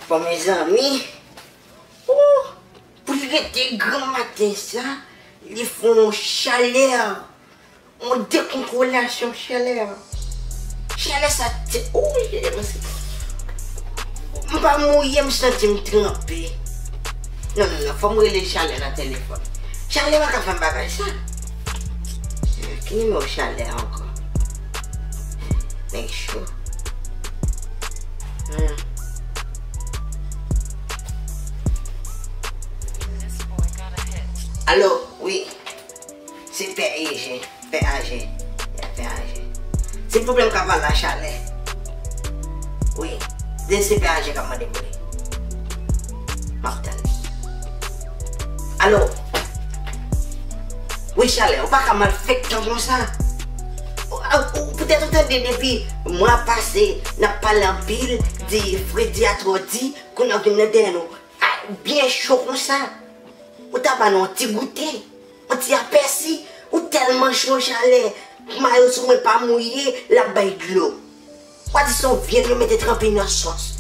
Bon mezanmi ooh pou li rete granm maten sa li fon chalè. Mwen dekontrolasyon chalè a. Chalè sa te oouyy li te pase pran fou. M pa mouye m santi m tranpe. Non non non fòm rele chalè nan telefòn. Chalè pa ka fè m bagay sa. Ki nimewo chalè a ankò. Nèg cho. Humm. Alo wi. Se pè eje, pè aje, ya pè aje. Se pwoblèm kap al la chalè. Wi, de se pè aje kap mande pou li. Map tann li. Alo! Wi chalè, ou pa ka mal fèk tan konsa. Poutèt ou tande depi mwa pase nap pale anpil, di fredi a twò di, kounye a ou vin nan dèyè nou. Ak byen cho konsa, ou ta ba nou yon ti goute, yon ti apèsi, ou tèlman cho chalè k mayo sou mwen pa mouye, l ap bay dlo. Wa di se yon vyann yo mete tranpe nan sòs,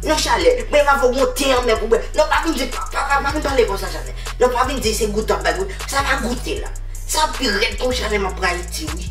nan chalè, men m ap ba w yon te anmè pou w bwè. Non pa vin di, pa pa vin pale konsa chalè, non pa vin di se goute w ap bay goute, sa pa goute la, sa pi rèd k yon chalè m ap rayi di wi.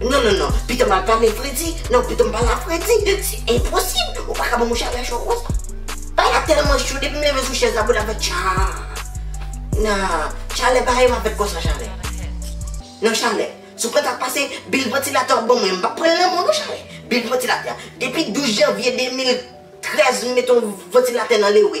Non non non, pito mal pale fredi, non pito m pale a fredi, se enposib, ou pa ka banm yon chalè cho konsa. Bay la tèlman cho depi m leve sou chèz la bouda fè tchaa. Nan, chalè pa janm ap fèt konsa chalè. Non chalè, si w pa ta pase bil vantilatè w ban mwen, m pap pran lanmò non chalè. Bil vantilatè, depi 12 janvye 2013 m met yon vantilatè nan lewe.